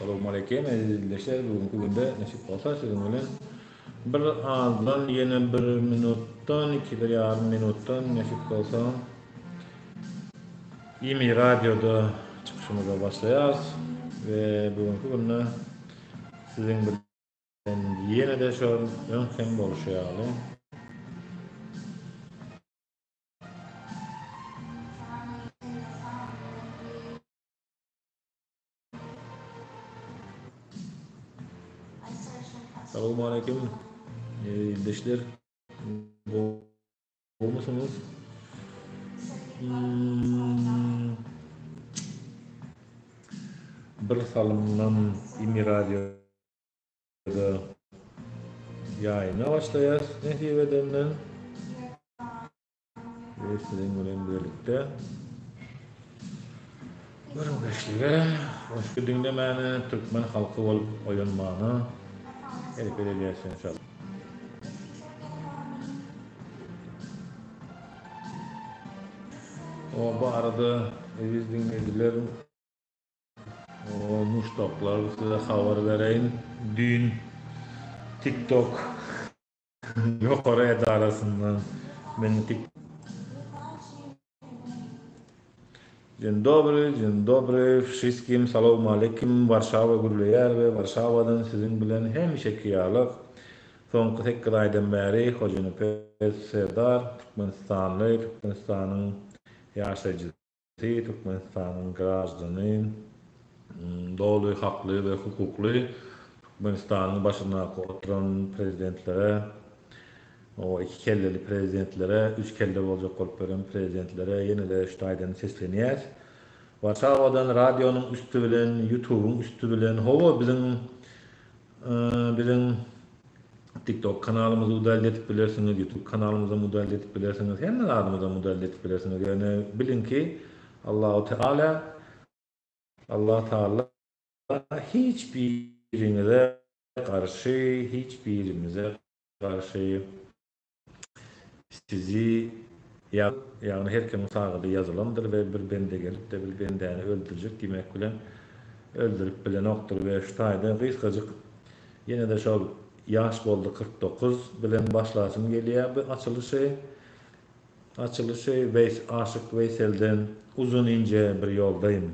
Salowmaleýkim eziz ildeşler, bu günki günde nesip bolsa siziň bilen bir azdan ýene bir minutdan, iki bir ýarym minutdan nesip bolsa Imi radioda çykyşymyza başlaýarys we bu günki günde siziň bilen Ýene-de şol öňkem bolşy ýaly. Salowmaleýkim. Ildeşler. Gowmysyňyz? Bir salymdan Imi radio Ýa-da ýaýyna başlaýas nesip edende. We siziň bilen birlikde gürrüňdeşlige, goşgy diňlemäne, türkmen halky bolup oýanmana hereket edýäs enşalla. Oba arada eziz diňleýjiler. Oo muşdaklar size habar bereýin düýn tiktok ýokary edarasyndan meni tik Dzień dobry, dzień dobry wşyskim salowmalekim Warşawa gürleýär we Warşawadan siziň bilen hemişeki ýaly soňky sekiz aýdan bäri Hojanepes Serdar türkmenistanly türkmenistanyň ýaşaýjysy. Seýit Türkmenistanyň graždany, doly hakly we hukukly Türkmenistanyň başyndaky oturan prezidentlere, o iki kelleli prezidentlere, üç kelle boljak bolup beren prezidentlere ýene-de şu taýdan seslenýäs. Warşawadan radionyň üsti bilen, ýutubyň üsti bilen, hawa biziň Biziň TikTok kanalymyzy udalde edip bilersiňiz, YouTube kanalymyzam udalde edip bilersiňiz, hemme zadymyzam udalde edip bilersiňiz. Ýöne biliň ki, Allahu Teala, Allah Taala hiç biriňize garşy, hiç birimize garşy. Sizi ýazyp, ýagny her kimiň sagady ýazylandyr we bir bende gelip-de bir bendäni öldürjek diýmek bilen öldürip bilenokdyr we şu taýda gysgajyk ýene-de şol Ýaş boldy kyrk dokuz bilen başlasym gelýär bu açylyşy. Açylyşy Weýs Aşyk Weýselden Uzun inje bir ýoldaýym.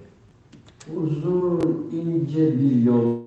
Uzun inje bir ýol.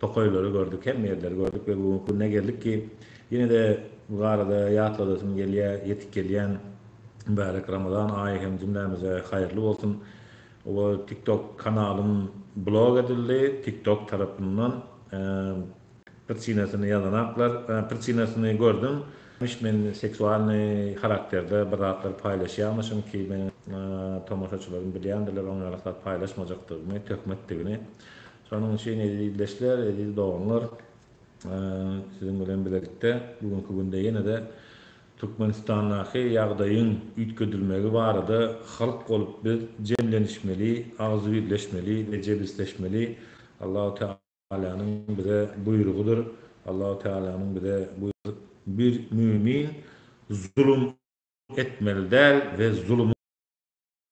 Tokaýlary gördük, hemme ýerleri gördük we bu günki gününe geldik ki, ýene-de bu barada ýatladasym gelýär, ýetip gelýän mübärek Ramazan aýy hem jümlämize haýyrly bolsun. Oba TikTok kanalym blok edildi, TikTok tarapyndan prçinasyny ýazanaklar, prçinasyny gördüm. Myş men seksualnyý harakterde bir zatlar paýlaşýarmyşym ki, meniň tomaşaçylarym bilýändirler oňýaly zat paýlaşmajakdygymy, töhmetdigini. Şonuň üçin eziz ildeşler, eziz doganlar, siziň bilen bilelikde bu günki günde ýene-de Türkmenistandaky ýagdaýyň üýtgedilmegi barada halk bolup biz jemlenişmeli, agzybirleşmeli we jebisleşmeli. Allahu Tealanyň bize buýrugydyr. Allahu Tealanyň bize Bir mümin zulum etmeli däl we zulum.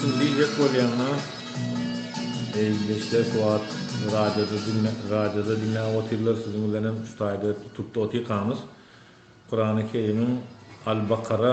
Siz diýjek bolýaňyz-a, Beýle işler wagt radioda radioda diňläp otyrlar, siziň bilenem şu taýda tutup-da otyrkamyz. Kurany Kerimiň Al-Bakara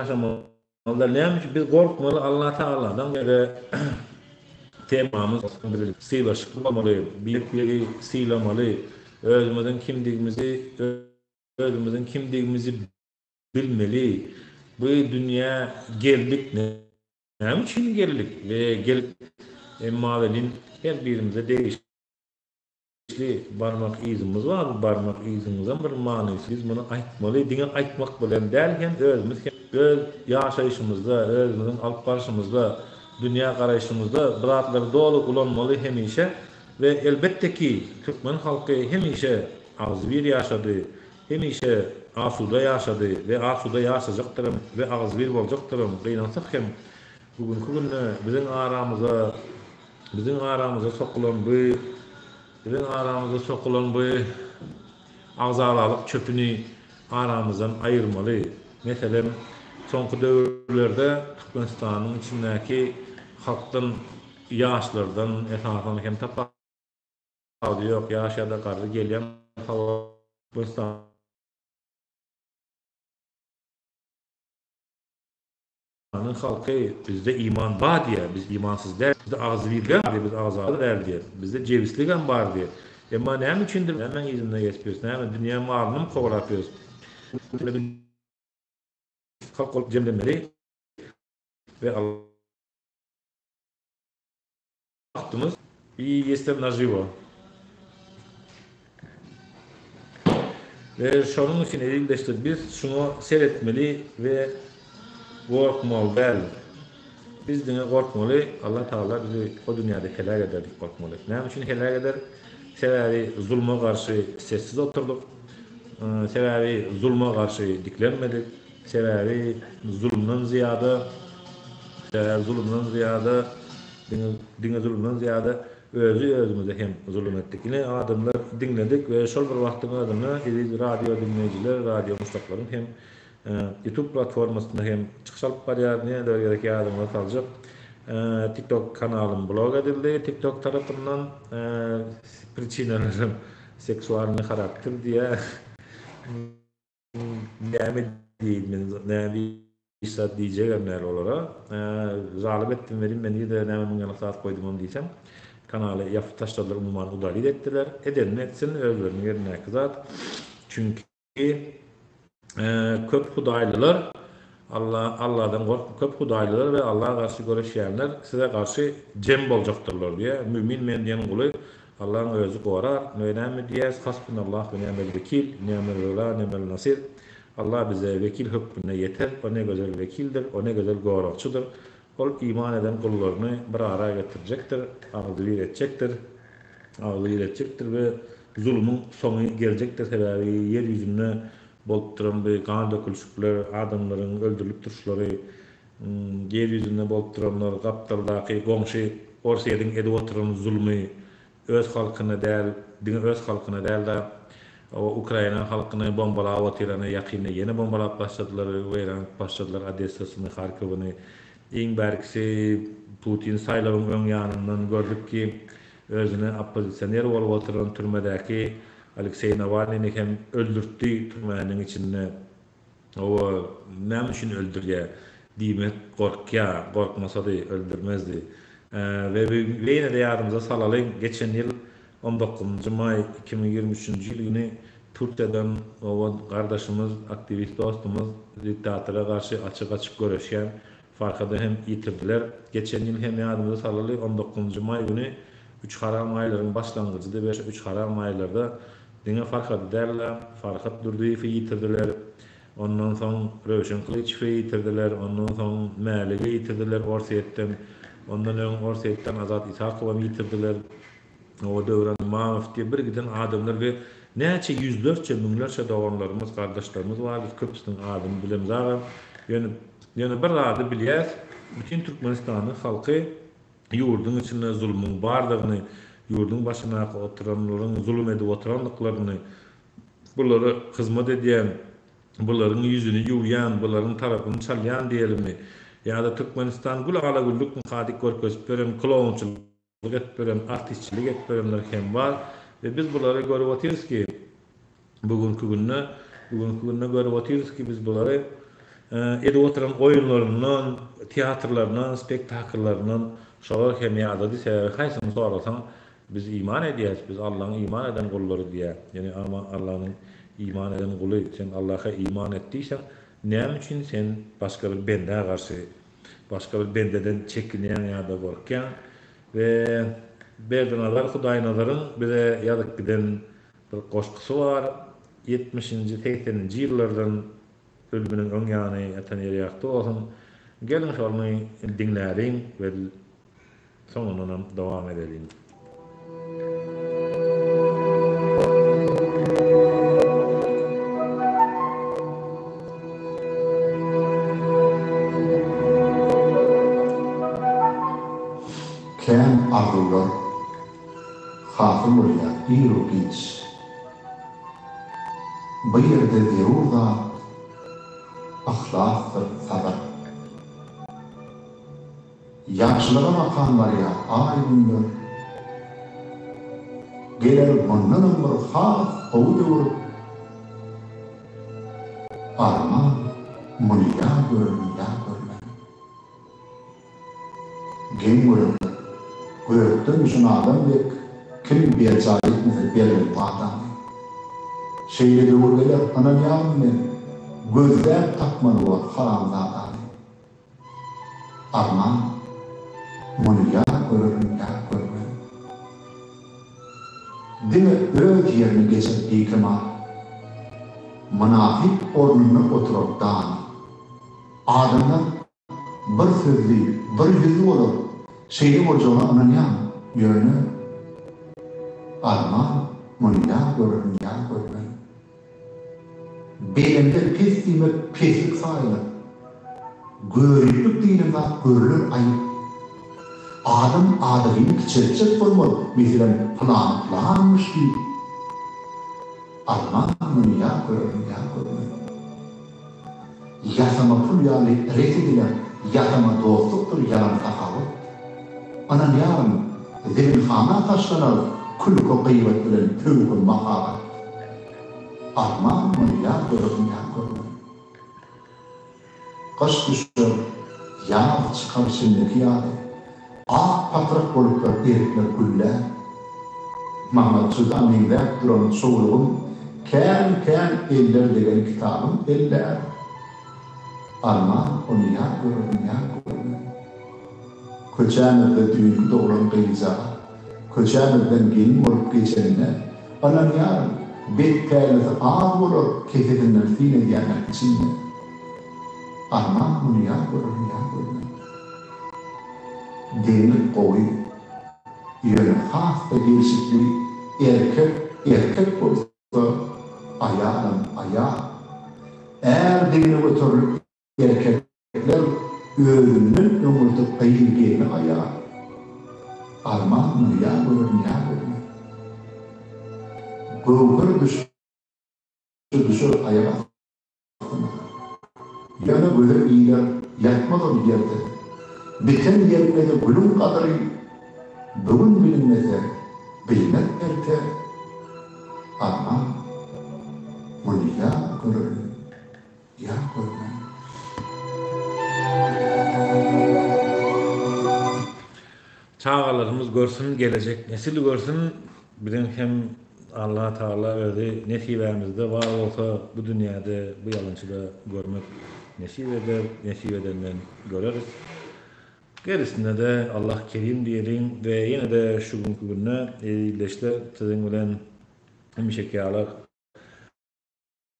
Ýaşamalylar näme üçin biz gorkmaly Allah tagaladan bize temamyz sylaşykly bolmaly beýikligi sylamaly özümiziň kimdigimizi özümiziň kimdigimizi bilmeli bu dünýä geldik näme üçin geldik we gelip emma welin her birimize degişli Ýetişli barmak yzymyz bar bu barmak yzymyzam bir manysy biz muny aýtmaly diňe aýtmak bilen däl hem özümiz hem öz ýaşaýşymyzda özümiziň alyp barşymyzda dünýä garaýşymyzda bu zatlary doly ulanmaly hemişe we elbetde ki türkmen halky hemişe agzybir ýaşady hemişe asuda ýaşady we asuda ýaşajakdyrem we agzybir boljakdyrem gynansak hem Bu günki günde biziň aramyza, biziň aramyza sokulan bu, biziň aramyza sokulan bu agzalalyk çöpüni aramyzdan aýyrmaly. Meselem, soňky döwürlerde Türkmenistanyň içindäki halkdan, ýaşlardan, esasan hem tapa ady ýok, ýaş ýa-da garry gelýän habar Türkmenistan, Türkmenistanyň halky bizde iman bar diýýär, biz imansyz däl, bizde agzybir däl diýýär, biz agzaly däl diýýär, bizde jebisligem bar diýýär. Emma näme üçindir nämäň yzynda gezip ýörüs, näme dünýä malyny my kowalap ýörüs? Türkmenler birleşip halk bolup jemlenmeli we Attymyz i ýesem nažiwo. We şonuň üçin eziz-deşler biz şuňa seretmeli we gorkmaly däl. Biz diňe gorkmaly Allah Taala bizi o dünýäde heläk eder diýip gorkmaly. Näme üçin heläk eder? Sebäbi zulma garşy sessiz oturdyk. Sebäbi zulma garşy diklenmedik. Sebäbi zulumdan zyýada sebäbi zulumdan zyýada Diňe diňe zulumdan zyýada özi özümize hem zulum etdik. Ine adamlar diňledik we şol bir wagtyň özünde eziz radio diňleýjiler, radio muşdaklaryň hem youtube platformasynda hem çykyş alyp barýar. Nämeler gerek ýadyňyza saljak tiktok kanalym blok edildi tiktok tarapyndan priçinalaram seksualnyý harakter diýýär. Näme diýeýin men, näme hiç zat diýjegem däl olara. Zalym etdim welin men ýüze näme müň ýaňak zat goýdumam diýsem, kanaly ýapyp taşladylar, umuman udalit etdiler. Edenini etsin, özleriniň ýerindäki zat. Çünki köp hudaýlylar Alla, Alladan gork, köp hudaýlylar we Alla garşy göreşýänler size garşy jem boljakdyrlar diýýär. Mümin Bendäniň guly, Allaň Özi gorar. Nä näme diýýäs? Hasbunallah we ni'mel wekil, ni'mel wela, ni'mel nasir. Alla bize wekil hökmünde ýeter. O ne gözel wekildir, o ne gözel goragçydyr. Ol iman eden gullaryny bir ara getirjekdir, agzybir etjekdir, agzybir etjekdir we zulumyň soňy geljekdir, sebäbi ýer ýüzünde bolup duran bu gan dökülişikler, adamlaryň öldürilip durşlary, ýer ýüzünde bolup duranlar, gapdaldaky, goňşy Orsýetiň edip oturan zulmy, Öz halkyna däl, diňe öz halkyna däl-de, Ukraina halkyny bombalap otyrany, ýakynda ýene bombalap başladylar, weýran edip başladylar Odessasyny, Harkowyny. Iň bärkisi Putin saýlawyň öň ýanyndan gördük ki, özüni oppozisioner bolup oturan türmedäki Alekseý Nawalnyny hem öldürtdi, türmäniň içinde. Hawa, näme üçin öldürýär? diýmek gorkýar. Gorkmasady, öldürmezdi. We ýene-de ýadymyza salalyň, geçen ýyl on dokuzynjy maý iki müň ýigrimi üçünji ýyl güni Türkiýeden oba gardaşymyz, aktiwist dostumyz, diktatora garşy açyk-açyk göreşýän Farhady hem ýitirdiler. Geçen ýyl hem ýadymyza salaly, on dokuzynjy maý güni üç haram aýlaryň başlangyjydy we şu üç haram aýlarda diňe Farhady däl-de, Farhat Durdyýewi ýitirdiler. Ondan soň Röwşen Kylyçowy ýitirdiler. Ondan soň Mäligi ýitirdiler Orsýetden. Ondan öň Orsýetden Azat Isakowam ýitirdiler. Oňa Döwran Imanow diýip bir giden adamlar we näçe ýüzlerçe, müňlerçe doganlarymyz, gardaşlarymyz bar, biz köpüsiniň adyny bilemiz agam. Ýöne ýöne bir zady bilýäs, bütin Türkmenistanyň halky ýurduň içinde zulumyň bardygyny, ýurduň başyndaky oturanlaryň zulum edip oturandyklaryny, bulara hyzmat edýän, bularyň ýüzüni ýuwýan, bularyň tarapyny çalýan diýelimi, ýa-da Türkmenistan gül ala-güllük mikadyk görkezip ýören klounçylyk, Ötberen, artistçilik etberenler hem bar we biz bulary görüp otyrys ki, bu günki günde, bu günki günde görüp otyrys ki, biz bulary edip otyran oýunlaryndan, teatrlaryndan, spektakllaryndan şolar hem ýadady, sebäbi haýsyny sorasaň, biz iman edýäs, biz Allaň iman eden gullary diýýä, ýöne ama Allanyň iman eden guly, sen Allaha iman et diýseň, näme üçin sen başga bir bendä garşy Başga bir bendeden çekinýäň ýa-da gorkýaň we Berdiňazar Hudaýnazaryň bize ýazyp giden bir goşgusy bar, ýetmişinji, segseninji ýyllardan, ölüminiň öň ýany, ýatan ýeri ýagty bolsun, geliň şony diňläliň we Soňundanam dowam edeliň. Kän arzuwlar hasyl bolýar ir-u giç. Bu ýerde zerur zat yhlasdyr sabyr. Ýagşylyga bakan barýa aý günler Geler mundanam bir has gowy döwür Arman muny ýa gören ýa görmän Geň görekler gökden düşen adam dek Kim berjaý etmese berlen wadany Şeýle döwür geler ynanýaryn men Gözläp tapmaly bor haramzadany. Arman, muny ýa görerin ýa görmerin. Diňe öz ýerini geçen beýkemar, mynasyp ornunda oturan dana. Adamlar bir sözli, bir ýüzli bolar, şeýle boljagyna ynanýan, ýöne. Arman, muny ýa görerin ýa görmerin. Belende pes diýmek peslik sanaýlar. Göriplik diýilen zat görülen aýyp. Adam adalyny kiçeltjek bolmaz, meselem, pylany pylanmyş diýip. Alman muny ýa görüň, ýa görmän. Ýasama pul ýaly ret ediler Ýasama dostlukdyr ýalan sahawat Ynanýaryn zeminhana taşlanar Külki gyýbat bilen pöwhe mahabat Armanymyň ýar döresin ýar görmän Gyş düşer ýaz çykar çimdiki ýaly Ak patrak bolupdyr erikler gülläp. Maňa juda meňzäp duran çowlugym, Kän-kän eller degen kitabym elläp. Arman, ony ýa görerin, ýa görmen. Köçämizde düýnki doglan gyzjagaz, Köçämizden gelin bolup geçenine, Ynanýaryn, bet-pälisi az bolar, Kesesinden syn edýänem içinden. Arman muny ýa görerin ýa görmerin. Degmek gowy, ýöne has-da gelşikli erkek erkek bolsa, aýalam aýal. Är degne göterilip erkekler özünden öňürti gyz gelni aýal. Arman muny ýa görerin ýa görmerin. Göwher düşse düşer aýak asty. Ýöne göze iler ýatmaz ol ýerde. Biten ýerine-de gülüň gadyry Bu gün bilinmese, bilmek erte. Alma, muny ýa görermen, ýa görmen. Çagalarymyz görsün gelejek nesil görsün biziň hem Allah Taala özi nesibämizde bar bolsa bu dünýäde bu ýalançyda görmek nesip eder nesip edenden göreris gerisinede Allah kerim diýeliň we ýenede şu günki günde ildeşler siziň bilen hemişeki ýaly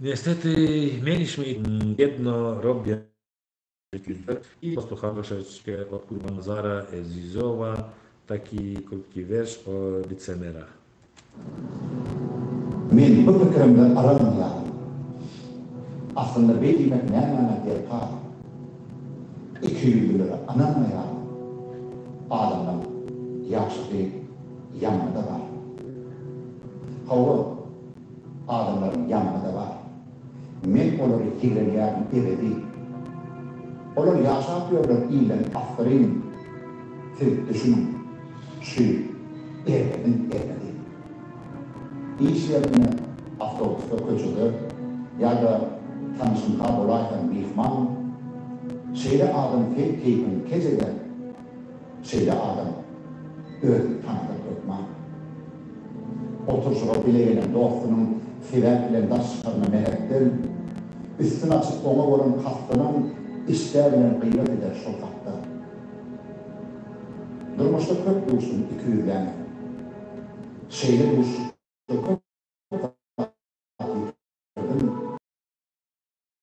Nesteti men işimi bedno robya ýüzler i dostluha troşeçke ot gurban zara ezizowa taki krutki werş o licemera. Men bu pikirimde yrym ýaly. Aslynda beý diýmek nämäňe derkar? Ikiýüzlülere ynanmaýaryn. Adamlaň ýagşysy ýamany-da bar. Hawa. Adamlaryň ýanynda-da bar. Men olary ýigrenýärin ebedi. Olar ýaşap ýörler ilen asyryn. Siz düşüniň, şu Erdebiň erdedi. Iş ýerinde, awtobusda, köçede ýa-da tanyşyňka bolaýsaň myhman. Şeýle adam seýt keýpiň kejede. Şeýle adam özüni tanadyp hökman. Oturyşyga bile gelen dostunyň sebäp bilen daş çykaryna mähetdel, üstün açyp oňa bolan kastynyň işdä bilen gybat eder şol hakda. Durmuşda köp duşdum ikiýüzlänä. Şeýle duşuşda köp zady ýitirdim.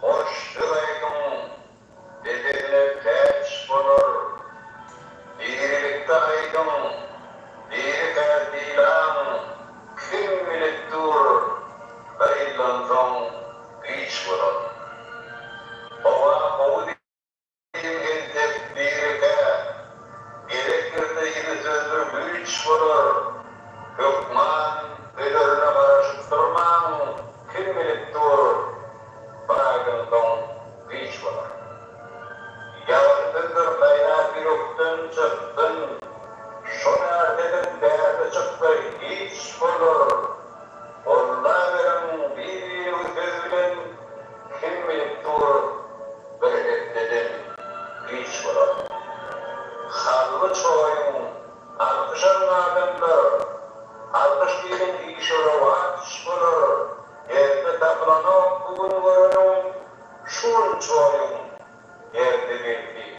Hoş söz aýdyň, depesine täç gonar. Dirilikde aýdyň, diri kär diýlaň, kim bilip dur, bir ýyldan soň giç bolar. Howa gowy Biri entek, biri kä. Gerek ýerde ýene sözdür güýç bolar. Hökman bölerine garaşyp durmaň, kim bilip dur, bir aýdan soň giç bolar. Ýagşy sözdür gaýnap ýürekden çyksyn. Şol ärteden bärde çyksa hiç bolar. Gollaweriň bir-biriniňi söz bilen. Kim bilip dur, bir hepdeden giç bolar. Hally çoýun, alkyş alyň adamlar. Alkyş diýlen işe rowaç bolar. Erde tapylanok bu gün göreniň, şu gün çoýun, erde belki.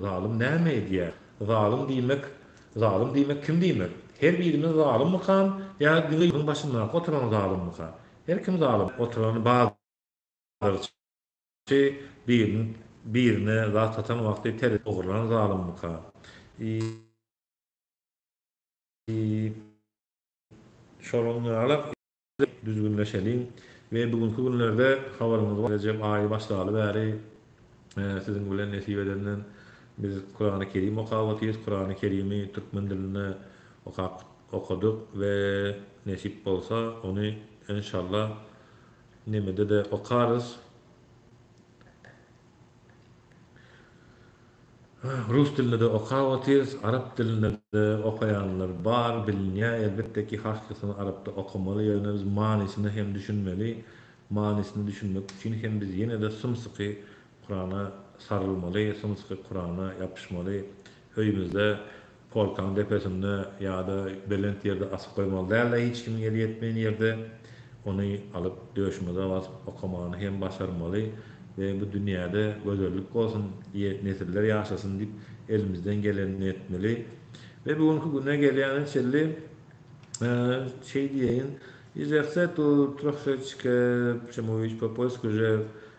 Zalym näme edýär? Zalym diýmek, zalym diýmek kim diýmek? Her birimiz zalymmykam ýa diňe ýüň başyndaky oturan zalymmyka? Her kim zalym. Oturan bazarçy biriniň birine zat satan wagty terezini ogurlan zalymmyka? Iý, iý, şonuň ýaly. düzgünleşeliň we bu günki günlerde habaryňyz bar Rejep aýy başlaly bäri siziň bilen nesip edenden biz Kurany Kerim okap otyrys Kurany Kerimi türkmen dilinde okap okadyk we nesip bolsa ony enşalla nemede-de okarys. Rus dilinde-de okap otyrys, arap dilinde-de okaýanlar bar, bilinýär. Elbetde ki, harçlysyny arapda okamaly, ýöne biz manysyna hem düşünmeli. Manysyna düşünmek üçin hem biz ýene-de symsyky Kurana sarylmaly, symsyky Kurana ýapyşmaly. Öýümizde Polkaň depesinde ýa-da belent ýerde asyp goýmaly däl-de, hiç kimiň eli ýetmeýän ýerde ony alyp, döşümize basyp okamany hem başarmaly we bu dünýäde gözellik bolsun, nesiller ýaşasyn diýip, elimizden gelenini etmeli. We bu günki güne gelýäne çenli şeý diýeýin, izerse tu troszeczkę, çemu iç po poisku že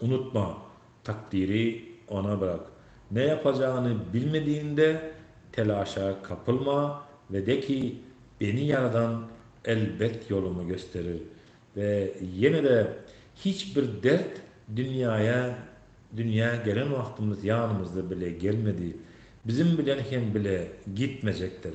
Unutma, takdyry Ona bırak. Ne ýapajagyny bilmedigiňde, telaşa kapylma we de ki, Beni ýaradan elbet ýolumy gösterir. We ýene-de, hiç bir dert dünýäýe dünýä gelen wagtymyz ýanymyzda bile gelmedi. Bizim bilen hem bile gitmejekdir.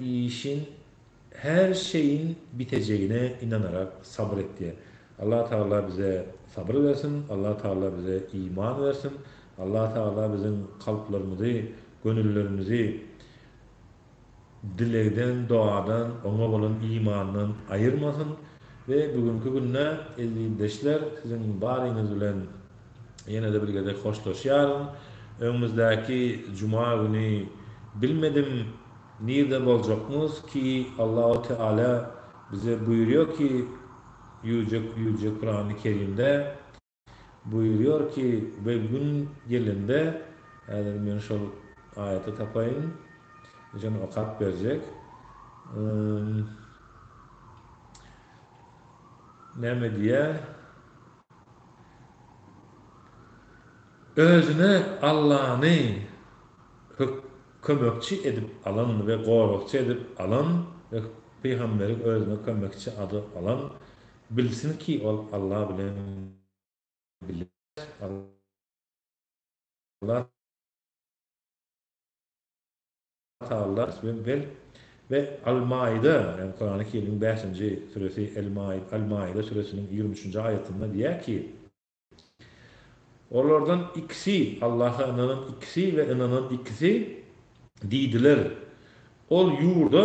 işiň her şeyin bitejegine inanarak sabyr et diýen. Allah Taala bize sabyr bersin, Allah Taala bize iman bersin, Allah Taala biziň kalplarymyzy, gönüllerimizi dilegden, doadan, oňa bolan imandan aýyrmasyn we bugünki günde eziz ildeşler siziň baryňyz bilen ýene-de bir gezek hoşlaşýaryn. Öňümizdäki juma güni bilmedim nirde boljakmyz ki Allahu Teala bize buýurýar ki ýüjek ýüjek Kurany Kerimde buýurýar ki we gün gelende häzir men şol aýaty tapaýyn jan okap berjek näme diýýär Özüne Allany kömekçi edip alan we goragçy edip alan we pygamberi özüne kömekçi ady alan bilsin ki ol Alla bilen bile Alla Taala ismi Bel we Al-Maide, ýagny Kurany Kerimiň bäşinji süresi El-Maide, Al-Maide süresiniň ýigrimi üçünji aýatynda diýýär ki, Olardan ikisi, Allaha ynanan ikisi we ynanan ikisi, diýdiler, Ol ýurda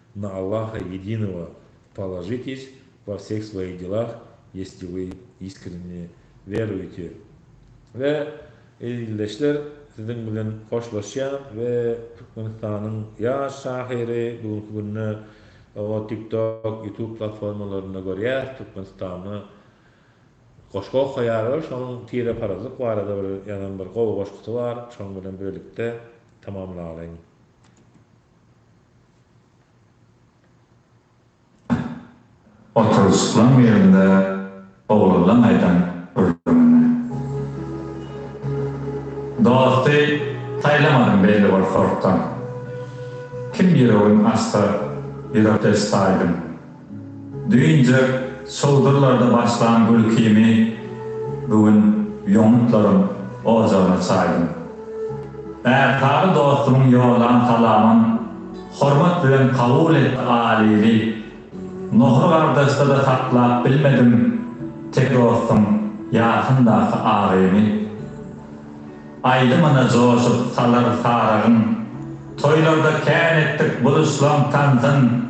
Na Allaha Ýedinego položitiž vo vseh svojih delah, jesli vy iskrenne werujite. We, eziz ildeşler, siziň bilen hoşlaşýan we Türkmenistanyň ýaş şahyry bugünki günde o TikTok, Youtube platformalarynda görýäs, Türkmenistanda goşgy okaýar we şonuň tireparazlyk barada bir ýazan bir gowy goşgusy bar, şonuň bilen birlikde tamamlalyň. Oturyşyklan ýerinde oglanlaň aýdan gürrüňini. Dosty saýlamadym belli bir sortdan. Kim ýüregin açsa ýürekdeş saýdym. Düýnje çowdurlarda başlan gülkimi bu gün ýomutlaryň ojagyna çaýdym. Ärsary dostumyň ýollan salamyn hormat bilen kabul et Alyly. Nohur gardaşda-da saklap bilmedim tek dostuň ýasyndaky agymy. Aýdymyna joşup salar sarygyň, toýlarda kän etdik buluşlaň tansyn.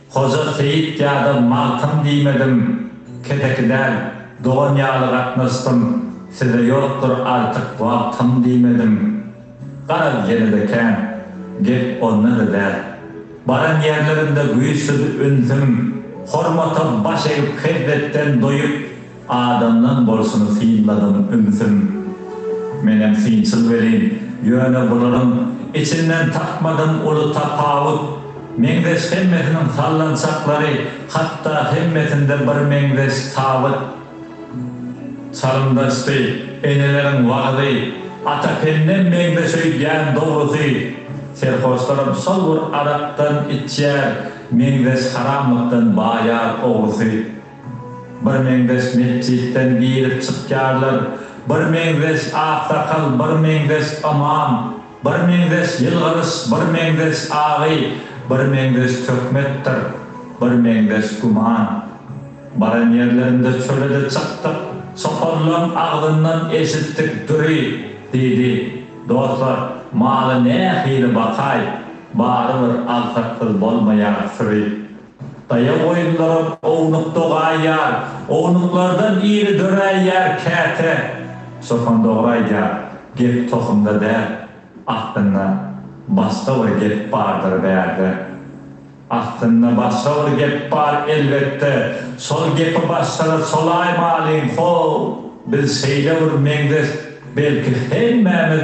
Hoja Seýit ýa-da Magtym diýmedim, kedeki däl, dogan ýaly gatnaşdym, size ýokdur artyk wagtym diýmedim. Garaz ýene-de kän, gep onda-da däl. Baran ýerlerimde güýçsüz ünsüm, hormata baş egip hezzetden doýup, Adamdan bolşuny synladym ümsüm. Menem synçyl welin, ýöne bularyň içinden tapmadym uly tapawut. Meňzeş hemmesiniň sallançaklary, hatda hemmesinde bir meňzeş tabyt. Çalymdaşdy eneleriň wagyzy, ata pennem meňzeş öýdýän dogrusy. Serhoşlaram şol bir arakdan içýär, meňzeş haramlykdan baýar ogrusy. Birmeňzeş metjitden girip çykýarlar, birmeňzeş aksakal, birmeňzeş ymam, birmeňzeş ýylgyryş, birmeňzeş agy, birmeňzeş töhmetdir, birmeňzeş güman. Baran ýerlerinde çöle-de çykdyk, çopanlaň agzyndan eşitdik Düri, diýdi, Dostlar, maly nähili bakaý, barybir agsaksyz bolmaýar, Süri. Daýaw goýunlaram ownuk dogaýýar, ownuklardan iri döräýýär käte. Çopan dogry aýdýar, gep tohumda däl, aslynda başga bir gep bardyr bärde. Aslynda başga bir gep bar elbetde, şol gepi başlara çolaýmalyň, how, biz şeýle bir meňzeş belki hemmämiz.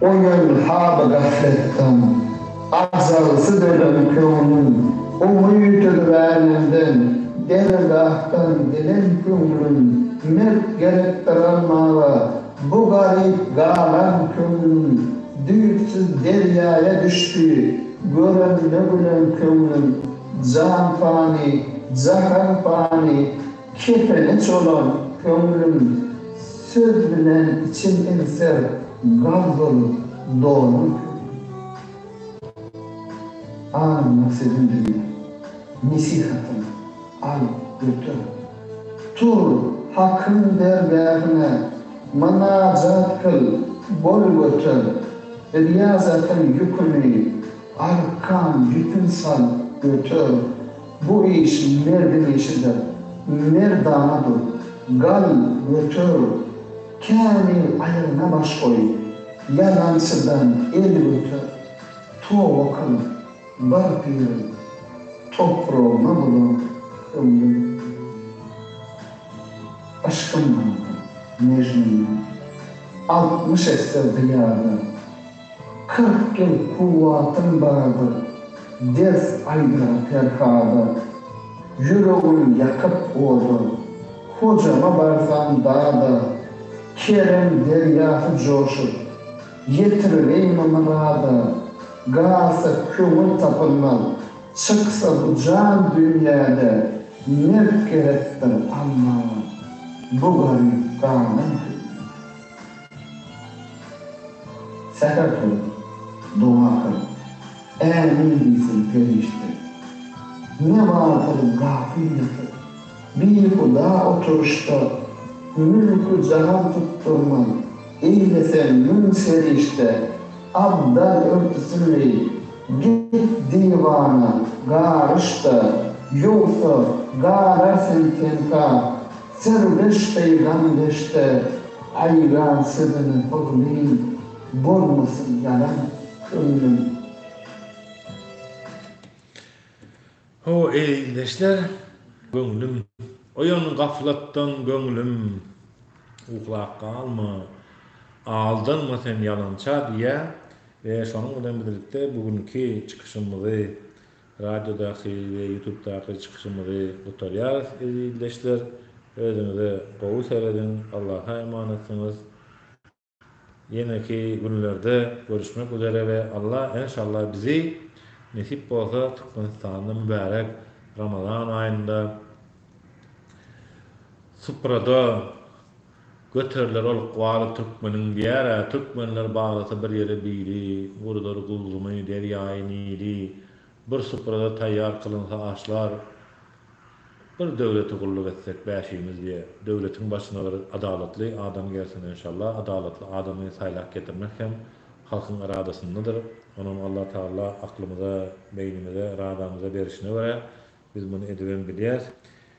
Oýan haly gafletden, Ajagsy dönen köňlüm, Oňa ýütüliräýmenden, Dergahdan gelen köňlüm, Mert gerekdir almaga, Bu garyp galan köňlüm, Düýpsüz derýaýa düşdi, Görende gülen köňlüm. Jan pany, jahan pany, Kepene çolan köňlüm söz bilen içim egser gaz bolup dolan köňlüm Aňymda sözüm diňle nesihatym al göter Tur Hakyň dergähine mynajat kyl bol göter Riýazatyň ýüküni arkan ýüpün sal göter Bu iş merdiň işidir. Merdana dur. Gal, göter. Kämil aýagyna baş goý. Ýalançydan el göter. Toba kyl. Bar pirim. Topragyna bulan ömrüm. Yşkym bardy Mejnundan. Altmyş esse zyýada. Kyrk ýyl kuwwatyň bardyr, ders aýdar Perhada. Ýüregim ýakyp oda, Hojama barsam dada. Kerem derýasy joşup, ýetiribeýme myrada. Galsa köňül tapylmaz, çyksa bu jan dünýäde. Mert gerekdir Alladan, bu garyp galan hünýada. Säher tur, doga kyl, Ämin diýsin perişde. Ne bardyr gapyl ýatyr, bihuda oturyşda, Mülki jahan tutdurman, eýleseň müň serişde. Abdal örtüsini git diwana garyş-da, Ýogsa, galar sen tenka. Serdeş eýran deşte aýran siziň huzmyň bolmasyn ýalan köňlüm. Ho eý ildeşler göňlüm. Oýan gaflatdan göňlüm. Uklap galma. Aldanma sen ýalança diýýär we şonuň bilen birlikde bu günki çykyşymyzy Radiodaky we ýutubdaky çykyşymyzy gutarýarys ezizleşler özüňize gowy serediň Allaha emanatsyňyz ýeneki günlerde görüşmek üzere we Alla enşalla bizi nesip bolsa Türkmenistanda mübärek Ramazan aýynda suprada Göteriler ol ykbaly türkmeniň diýer-ä, Türkmenler baglasa bir ýere bili, Guruzar gulzumy, derýaýy Nili, Bir suprada taýýar kylynsa aşlar, Bir döwlete gulluk etsek bäşimiz diýe, Döwletiň başyna bir adalatly adam gelsin enşalla, Adalatly adamy saýlap getirmek hem halkyň yradasyndadyr, Onam Alla Tagalla aklymyza, beýnimize, yradamyza berişine görä biz muny edibem bilýäs.